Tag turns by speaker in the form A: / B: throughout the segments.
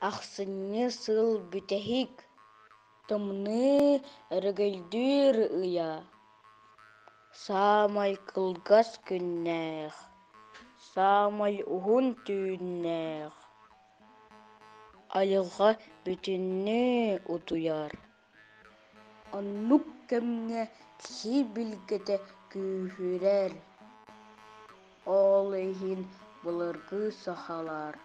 A: Ахсынньы сыл бүтэһик тымныы өрөгөйдүүр ыйа, саамай кылгас күннээх, саамай уһун түүннээх, айылҕа бүтүннүү утуйар Оннук кэмҥэ киһи билгэтэ күүһүрэр, ол иһин былыргы сахалар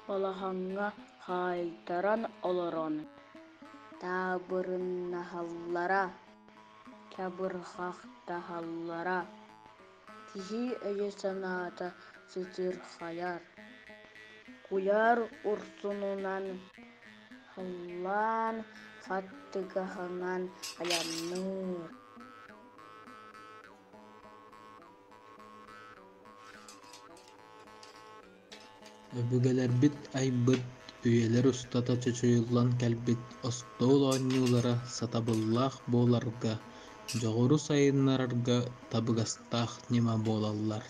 A: балаһаҥҥа хаайтаран олорон таабырыннаһаллара, чабырҕахтаһаллара Киһи өйө-санаата сытыырхайар, куйаар урсунунан һыллаан хаттыгаһынан айанныыр Өбүгэлэрбит айбыт, үйэлэр устата чочуйуллан кэлбит остуол оонньуулара сатабыллаах буоларга, дьоҕуру сайыннарарга табыгастаах ньыма буолаллар.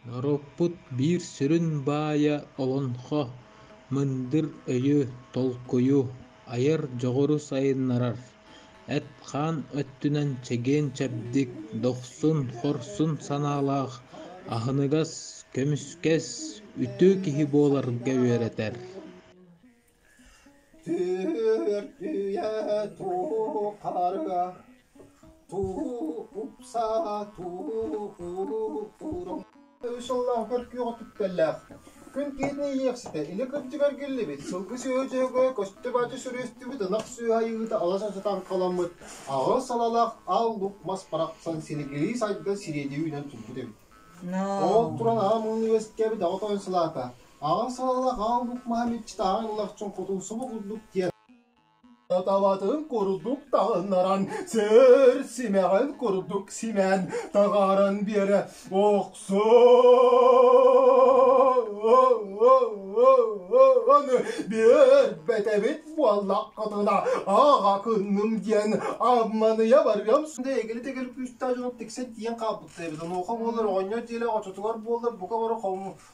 A: Норуоппут биир сүрүн баайа олоҥхо, мындыр өйү, толкуйу айар дьоҕуру сайыннарар, эт-хаан өттүнэн чэгиэн-чэбдик, дохсун-хорсун санаалаах, аһыныгас, көмүскэс, үтүө киһи буоларга үөрэтэр. Түөртүйэ туу харыга, туу упсаа, туу уурум. Үс сыллааҕыгар күөҕэ түптэллээх. Күн киһитин иһиэхситэ илэ кырдьыгар гиллибит, сылгы сөөдьөөгө көстө-бачы сүрүстүбүт ынах сүөһэ айыыта аласа сатаан халаммыт, аҕыс салалах ал лук мас барахсан силигирии сайда сириэдийэ үүнэн турбут эбит. Ол туран аҕам университеабыт аҕа тоойун салаата, Аҕаҥ салалах Аал Бук Маһамиччыт Ааҕын Лахчын Хотумсубу курдук диэн табатын курдук таһыннаран сөр симэҕин курдук симэн таҕаран биэрэ охсон биэрбэтэбит буоллаххытына аҕа кынным диэн амманыйа барыам эгили тегил күүстээх дьонут тиксэ тиийэн хааппытта эбит онуоха буолар оҕонньор диэли очотугар буоллар бука бары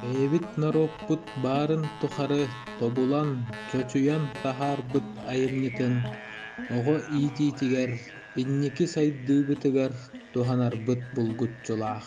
A: Бэйэбит норуоппут баарын тухары тобулан, чочуйан таһаарбыт айымньытын оҕо иитиитигэр, инники сайдыыбытыгар туһанарбыт булгуччулаах.